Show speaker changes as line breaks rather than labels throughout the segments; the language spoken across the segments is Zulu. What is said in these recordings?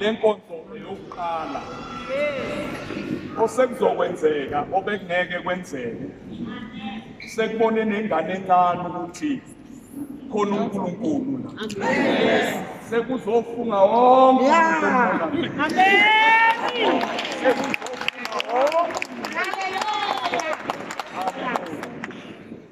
le nkonzo eyokuqala osekuzokwenzeka obekungeke kwenzeke sekubone nengane encane ukuthi khona uNkulunkulu sekuzofunga wonke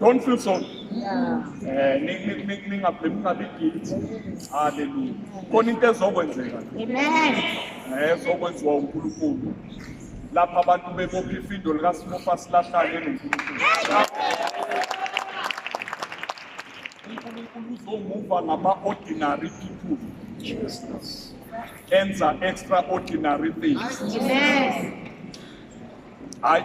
Don't feel sorry. Eh ningabi guilty. Hallelujah. Khona into ezokwenzeka. Amen. Eh
ezokwenziwa
uNkulunkulu. Lapha abantu bebopha ifindo lika Smofa silahlane noNkulunkulu. uNkulunkulu uzomuva ngama ordinary people. Jesus. Enza extraordinary things.
Amen.
I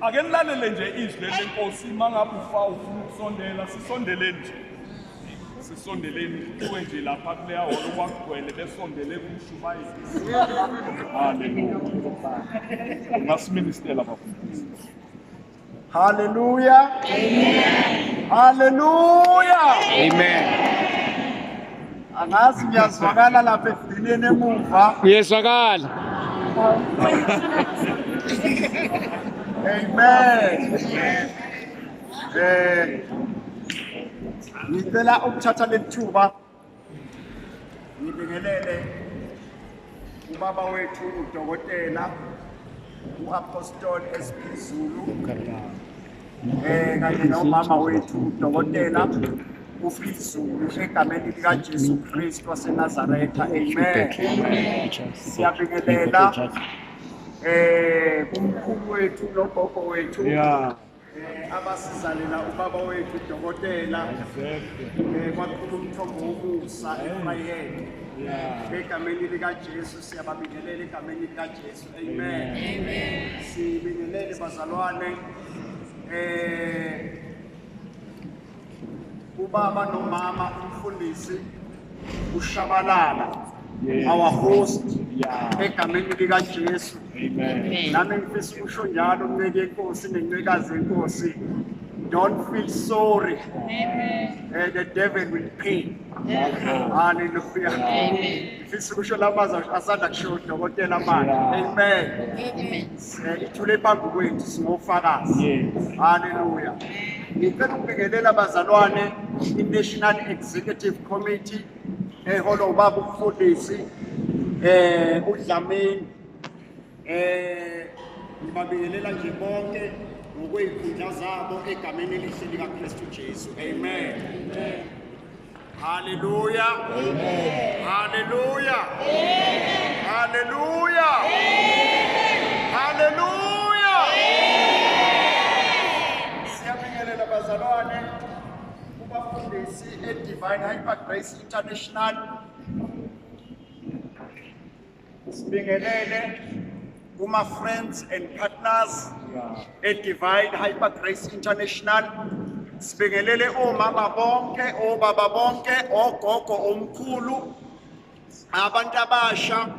ake nilalele nje izwi lenkosi mangabe ufa ufuna ukusondela sisondeleni nje sisondeleni kuwe nje lapha kuleya holo kwakugcwele besondele kumshumayeli haleluya ungasiministela bafundisi haleluya
amen
haleluya
amen angazi ngiyazwakala lapha ekugcineni emuva uyezwakala
amen
eh ngicela ukuthatha lethuba ngibingelele ubaba wethu udokotela uapostoli esiphezulu um kanye nomama wethu udokotela ufree zulu egameni likajesu kristu wasenazaretha amen siyabingelela um kumkhulu wethu nogogo wethu Eh, abasizalela ubaba wethu udokotela eh, kwakhulu umthombo womusa efrayeni egameni likajesu siyababingelela egameni likajesu Amen. Amen. Sibingelele bazalwane. Eh ubaba nomama umfundisi ushabalala our host egameni likaJesu. Amen.
Nami ngifisa ukusho
njalo unceke inkosi nencekazi inkosi. Don't feel sorry. Amen.
Uh, the devil will
pay. Yes. Hallelujah. Amen. Ngifisa ukusho la mazwi asanda kusho udokotela manje. Amen. Amen. Eh, Ithule phambi kwethu singofakazi. Yes. Haleluya. Ngicela ukubingelela bazalwane i-National Executive Committee eholwa ubaba umfundisi eh uDlamini eh ngibabingelela nje bonke ngokwey'khundla zabo egameni elihle likaKristu Jesu. Amen. Amen. Haleluya. Amen. Haleluya. Amen. Haleluya. Amen. Haleluya. Amen. Siyabingelela bazalwane kubafundisi eDivine Hyper Grace International. Sibingelele kuma friends and partners e Divine Hyper Grace International. Sibingelele omama bonke, obaba bonke, ogogo omkhulu, abantu abasha,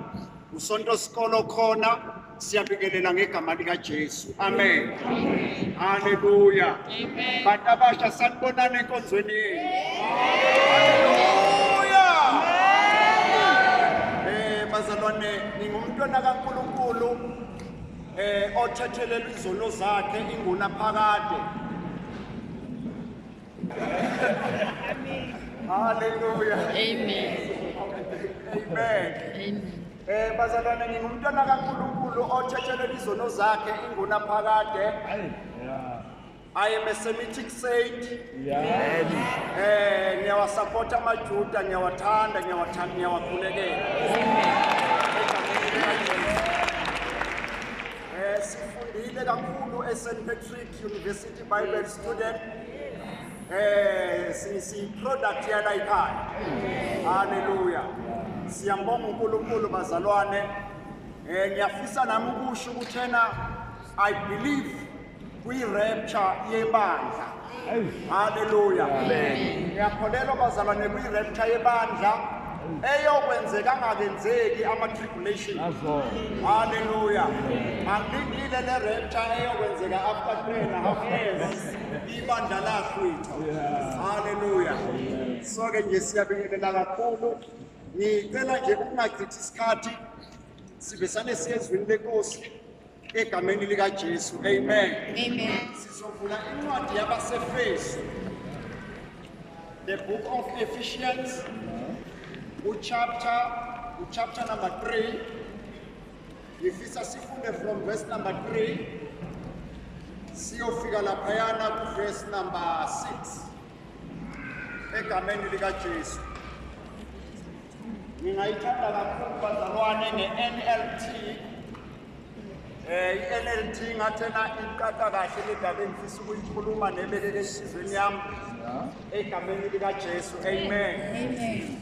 usonto sikolo khona siyabingelela ngegama likaJesu amen haleluya
bantu abasha
sanibonana enkonzweni yenu haleluya eh bazalwane ngingumntwana kaNkuluNkulu eh othethelela izono zakhe inguna phakade haleluya amen amen amen
Eh bazalwane ngingumntwana
kaNkulunkulu othetshelele izono zakhe inguna phakade. Hayi. Yeah. I am a Semitic saint. Yeah. Eh ngiyawasupporta amaJuda, ngiyawathanda, ngiyawathanda, ngiyawakhulekela. Eh sifundile kakhulu eSt Patrick University Bible Student. Eh si si product ya la ikhaya. Hallelujah. Siyambonga uNkulunkulu bazalwane. Eh ngiyafisa nami ukusho ukuthi ena I believe kwi rapture yebandla. Hallelujah. Amen. Ngiyakholelwa bazalwane kwi rapture yebandla. eyokwenzeka angakenzeki ama-tribulation halleluya angilindile le rapture eyokwenzeka after three and a half years ibandla lakwethu haleluya so-ke nje siyabingelela kakhulu ngicela nje ukungachithi isikhathi sivesane siye ezwini lenkosi egameni likajesu amen amen
sizovula
incwadi yabasefesu the book of ephesians uchapter uchapter number 3 ngifisa sifunde from verse number 3 siyofika laphayana kuverse number 6 egameni likajesu ngingayithanda kakhulu bazalwane nge-nlt Eh iNLT ngathena iqaqa kahle le ndaba engifisa ukuyikhuluma nebelele esizweni yami egameni lika Jesu amen amen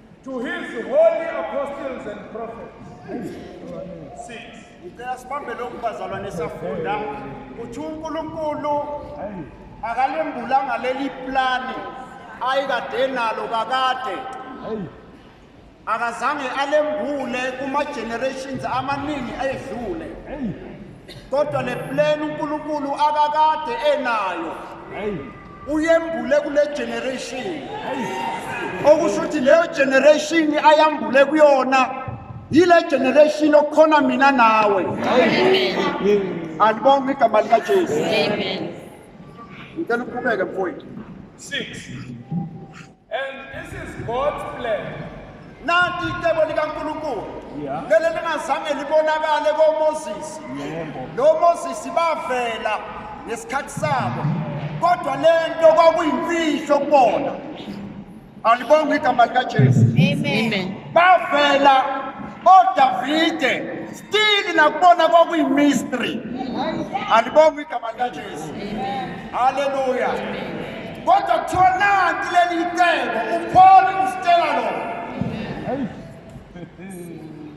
To his holy apostles and prophets. Six. Ngicela sibambe
lokhu bazalwane safunda ukuthi uNkulunkulu akalembulanga leli plani ayikade nalo kakade akazange alembule kuma generations amaningi ayedlule kodwa le plan uNkulunkulu akakade enayo uyembule kule generation okusho ukuthi leyo generation ayambule kuyona yile generation okukhona mina nawe
alibonga igama
likajesu ngicela uqhubeke mfowethu
6 And this is God's plan. Nanti
icebo likaNkulunkulu leli lingazange libonakale koMoses. Lo Moses bavela ngesikhathi sabo. Kodwa lento kwakuyimfihlo kubona. Alibonga igama likaJesu. Amen.
Bavela
oDavide still nakubona kwakuyimystery. Alibonga igama likaJesu. Hallelujah. kodwa kuthiwa nanti leli icebo upaul usitshela lona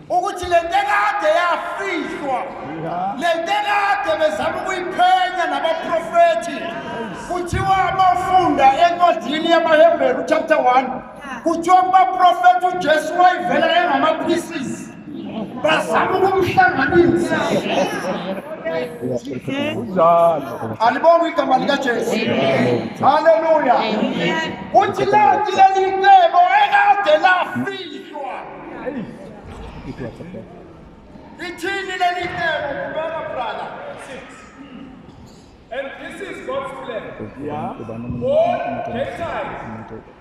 ukuthi le nto ekade yafihlwa le nto ekade bezama ukuyiphenya nabaprofethi kuthiwa uma ufunda encwadini yamahebheru chapter 1 kuthiwa kubaprofethi ujesu wayivela engama-pieces bazama ukumhlanganisa alibonga igama likajesu halleluya uthi lati leli cebo ekade lafihlwa ithini leli cebo kubeka
brother And this is God's plan. Yeah. All Gentiles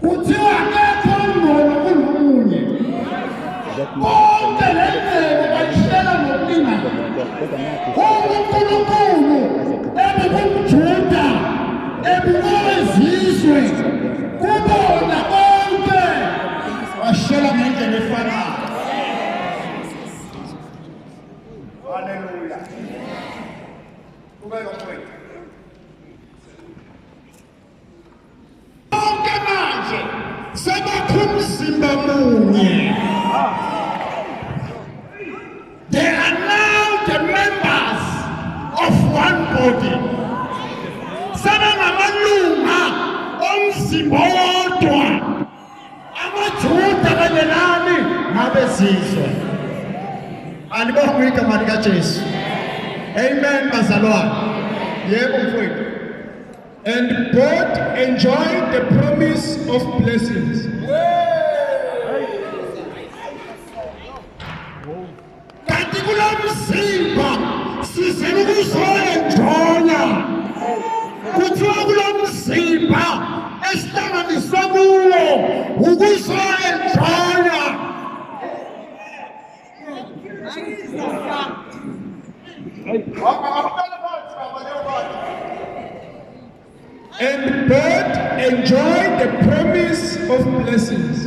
Kuthiwa akekho ongcono kunomunye. Bonke le ndlela bayishela ngokulingana. UNkulunkulu ebubumjuda ebubowezizwe kubona bonke washela ngendlela efanayo. Hallelujah. Kubeka mfowethu. bonke manje sebakho umzimba munye they are now the members of one body sebengamalunga omzimba wodwa amaJuda kanye nani nabezizwe alibonge igama likaJesu amen bazalwane yebo mfowethu and
both enjoy the promise of blessings yeah.
kanti kulo mzimba sizele ukuzoyenjola kuthiwa kulo mzimba esihlanganiswe kuwo ukuzoyenjola
And both enjoy the promise of blessings.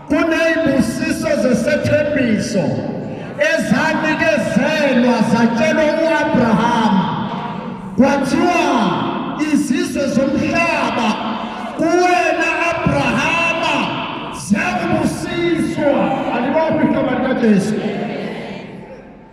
Kuney'busiso zesethembiso ezanikezelwa zatshelwa u-Abrahama kwathiwa izizwe zomhlaba kuwena Abrahama ziyakubusiswa alibophi igama likaJesu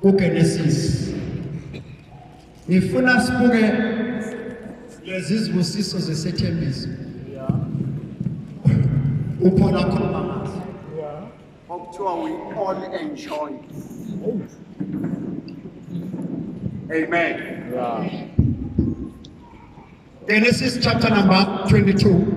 kuGenesis. Ngifuna sibuke lezi zibusiso zesethembiso. Uphola khona ngazo. Okuthiwa we all enjoy. Amen. Yeah. Genesis chapter number 22.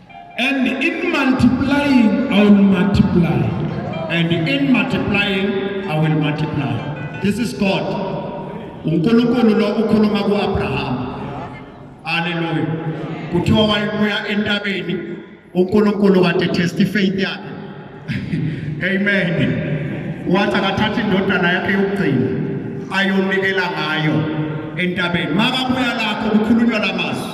And in multiplying, I will multiply. And
in multiplying, I will multiply. This is God. uNkulunkulu lo ukhuluma kuAbraham. Hallelujah. Kuthiwa wayebuya entabeni uNkulunkulu kade test faith yakhe. Amen. Wathi akathatha indodana yakhe yokugcina ayonikela ngayo entabeni. Makabuya lapho kukhulunywa lamazwi.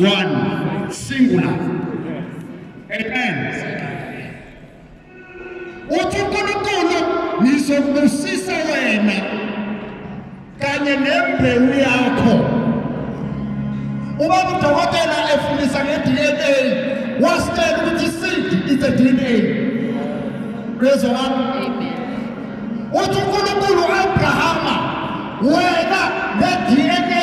one singular amen uthi uNkulunkulu ngizokubusisa wena kanye nembewu yakho ubaba udokotela efundisa nge-DNA wasitshela ukuthi seed is a DNA bezwa wami
uthi
uNkulunkulu uAbrahama wena nge-DNA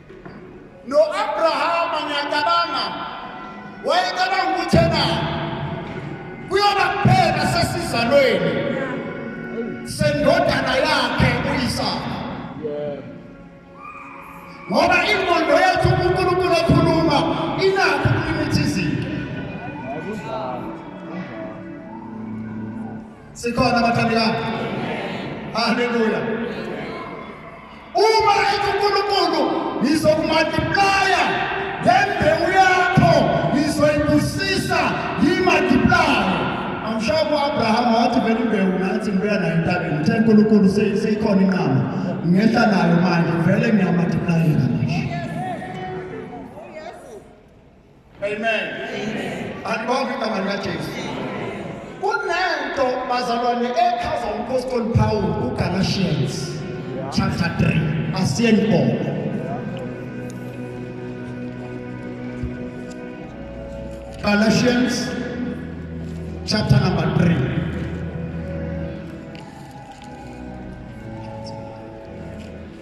No-Abrahama ngiyacabanga wayecabanga ukuthi ena kuyoba kuphela sesizalweni sendodana yakhe uyisaka ngoba ingqondo yethu unkulunkulu ekhuluma inakho ukulimitha izinto sikhona abathandekayo haleluya Uma ethi uNkulunkulu ngizokumultiplaya ngembewu yakho ngizoyibusisa ngiyimultiplaya. Amshaya ku-Abraham wathi vele imbewu ngathi ngibuya nayo entabeni. Uthe uNkulunkulu seyikhona inqama. Ngehla nayo manje vele ngiyamultiplayela manje. Amen. Alibonke igama likaJesu. Kunento bazalwane echaza umphostoli Paul uGalatians chapter 3 asiyeni khona. Galatians chapter number 3 Thank you.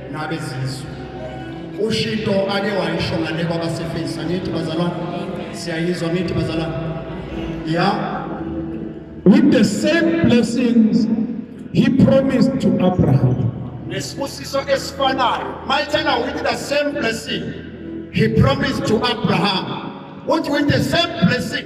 nabezizwe ushito ake wayisho ngale kwabaseface angithi bazalwane siyayizwa ngithi bazalwane ya
with the same blessings he promised to abraham nesibusiso
esifanayo mayithena with the same blessing he promised to abraham uthi with the same blessing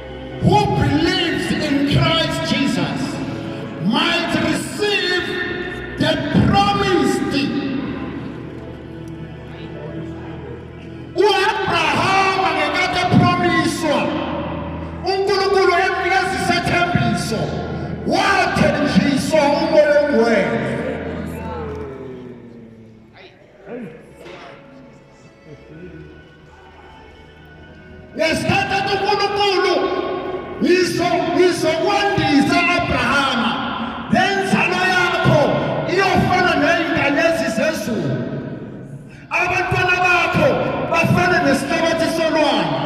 Who believes in Christ Jesus might receive the promised uAbrahama ngekade epromiswa uNkulunkulu emnikeza isethembiso wathenjiswa umoya ongcwele ngesikhathi athi unkulunkulu ngizokwandisa abrahama le nzalo yakho iyofana neyinkanyezi zezulu abantwana bakho bafane nesihlabathi solwandle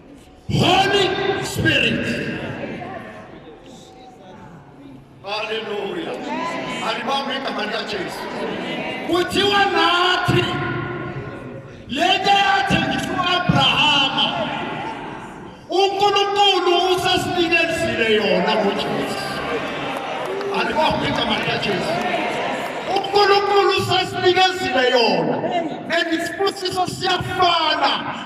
Holy Spirit. Hallelujah. Alibambe igama likaJesu. Kuthiwa nathi lento yathengiswa uAbrahama. UNkulunkulu usesinikezile yona ngoJesu. Alibambe igama likaJesu. uNkulunkulu usesinikezile yona and isibusiso siyafana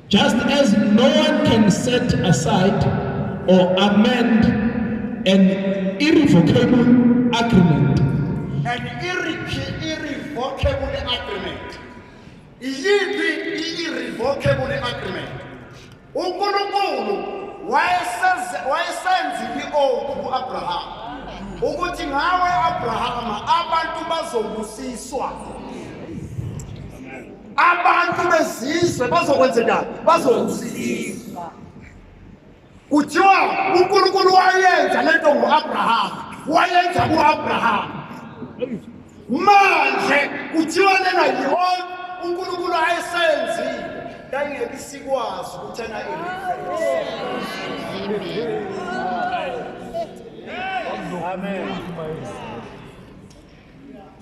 Just as no one can set aside or amend an irrevocable agreement. An
irrevocable agreement. Iyiphi i-irrevocable agreement? UNkulunkulu wayesenze wayesenzile i-oath ku-Abraham ukuthi ngawe Abrahama abantu bazobusiswa. abantu bezizwe bazokwenzekani bazokusizwa kuthiwa unkulunkulu wayenza le nto ngu-abrahama wayenza ku-abrahama manje kuthiwa lena yihona unkulunkulu ayesenzile yayingeke sikwazi ukuthi ena Amen.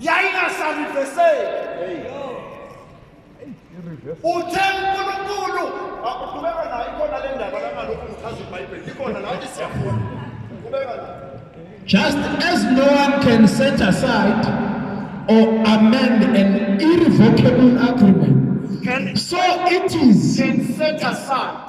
yayingasariveseki uthe unkulunkulu akudubeka nayo ikhona le ndaba langalokhu ngichaza ibhayibheli likhona nathi siyafuna kubeka just
as no one can set aside or amend an irrevocable agreement so it is can set
aside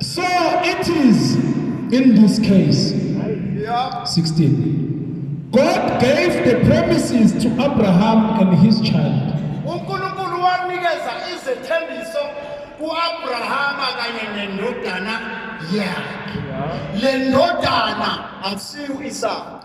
So it is in this case.
Yeah. 16.
God gave the promises to Abraham and his child. uNkulunkulu
wanikeza izethembiso kuAbrahama kanye nendodana yakhe le ndodana akusiyo isaka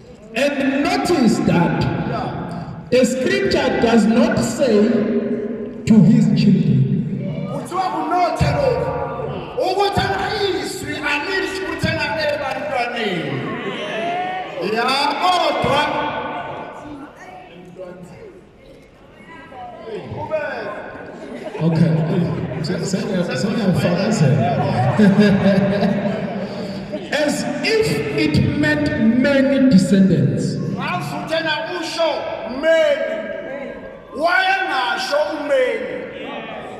And
notice that the scripture does not say to his children. Kuthiwa
kunothe lokhu ukuthi ayizwi alisho ukuthi engabe bantwaneni. Ya kodwa
Okay. As if it meant many descendants. Ngavutena
usho many. Wayengasho umeni.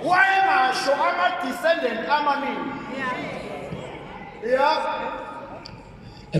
Wayengasho ama descendant amaningi. Yeah.